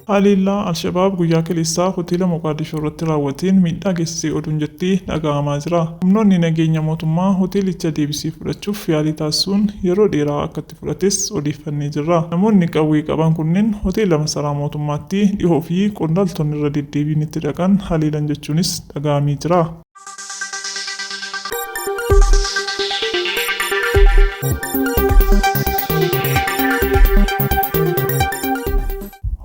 Haleellaa Al-Shabaab guyyaa kaleessaa hoteela Moqaadishoo irratti raawwateen miidhaa geessisee oduun jetti dhaga'amaa jira. Humnoonni nageenya mootummaa hoteelicha deebisee fudhachuuf yaalii taasisuun yeroo dheeraa akka fudhates odeeffannee jirra. Namoonni qawwee qaban kunneen hoteela masaraa mootummaatti dhihoo fi qondaaltonni irra deddeebiin itti dhaqan haleelan jechuunis dhaga'amee jira.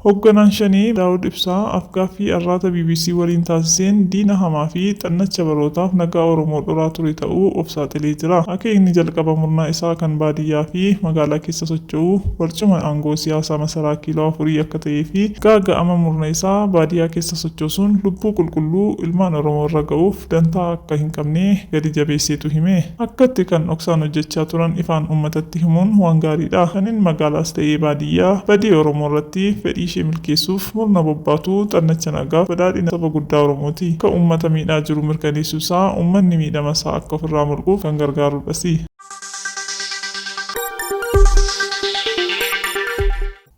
Hogganaan Shanee Daawud Ibsaa afgaaffii Arraata bbc waliin taasiseen diina hamaa fi xannacha barootaaf nagaa Oromoo dhoraa ture ta'uu of saaxilee jira. Akeekni jalqaba murna isaa kan baadiyyaa fi magaalaa keessa socho'u barcuma aangoo siyaasaa masaraa kiiloo afurii akka ta'ee fi gaaga'ama murna isaa baadiyaa keessa sochoosuun lubbuu qulqulluu ilmaan Oromoo irra ga'uuf dantaa akka hin qabne gadi jabeesseetu hime. Akkatti kan dhoksaan hojjechaa turan ifaan uummatatti himuun waan gaariidha. Kanin magaalaas ta'ee baadiyyaa badii Oromoo irratti fedhii ishee milkeessuuf murna bobbaatu xannacha nagaaf badhaadhina saba guddaa Oromooti. Ka uummata miidhaa jiru mirkaneessuu isaa uummanni miidhama isaa akka ofirraa mulquuf kan gargaarudhasi.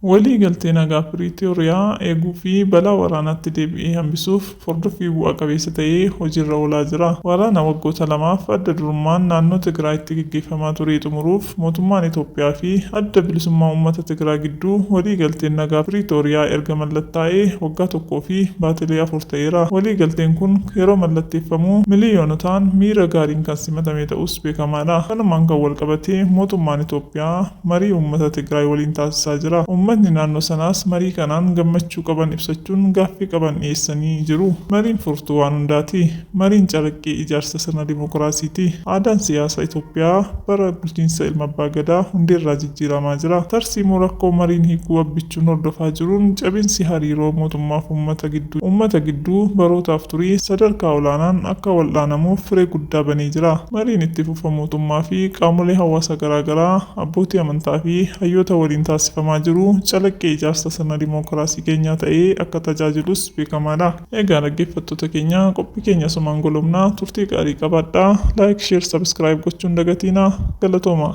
Walii galtee nagaa Piriitooriyaa eeguu fi balaa waraanaatti deebi'ee hambisuuf hordoffii bu'a qabeessa ta'e hojiirra oolaa jira. Waraana waggoota lamaaf adda durummaan naannoo Tigraayitti geggeeffamaa turee xumuruuf mootummaan Itoophiyaa fi Adda Bilisummaa Uummata Tigraa gidduu walii galteen nagaa Piriitooriyaa erga mallattaa'ee waggaa tokkoo fi baatilee afur ta'eera. Walii galteen kun yeroo mallatteeffamu miliyoonotaan miira gaariin kan simatame ta'uus beekamaadha. Kanumaan kan walqabatee mootummaan Itoophiyaa. marii uummata Tigraay waliin taasisaa jira. Uummatni naannoo sanaas marii kanaan gammachuu qaban ibsachuun gaaffii qaban dhiyeessanii jiru. Mariin furtuu waan hundaati. Mariin calaqqee ijaarsa sirna dimokiraasiiti. Aadaan siyaasa Itoophiyaa bara bulchiinsa Ilma Abbaa Gadaa hundeerraa jijjiiramaa jira. Tarsiimoo rakkoo mariin hiikuu Abbichuun hordofaa jiruun cabinsi hariiroo mootummaaf uummata gidduu uummata gidduu barootaaf turii sadarkaa olaanaan akka wal'aanamuuf firee guddaa banee jira. Mariin itti dhuunfaa mootummaa fi qaamolee hawaasa garaagaraa, abbootii amantaa fi hayyoota waliin taasifamaa jiru calaqqee ijaarsa sirna dimookiraasii keenyaa ta'ee akka tajaajilus beekamaa dha. Egaa dhaggeeffattoota keenya qophii keenya asumaan golobna. Turtii gaarii qabaadhaa. Like, Share, Subscribe gochuu hin dagatiinaa. Galatoomaa!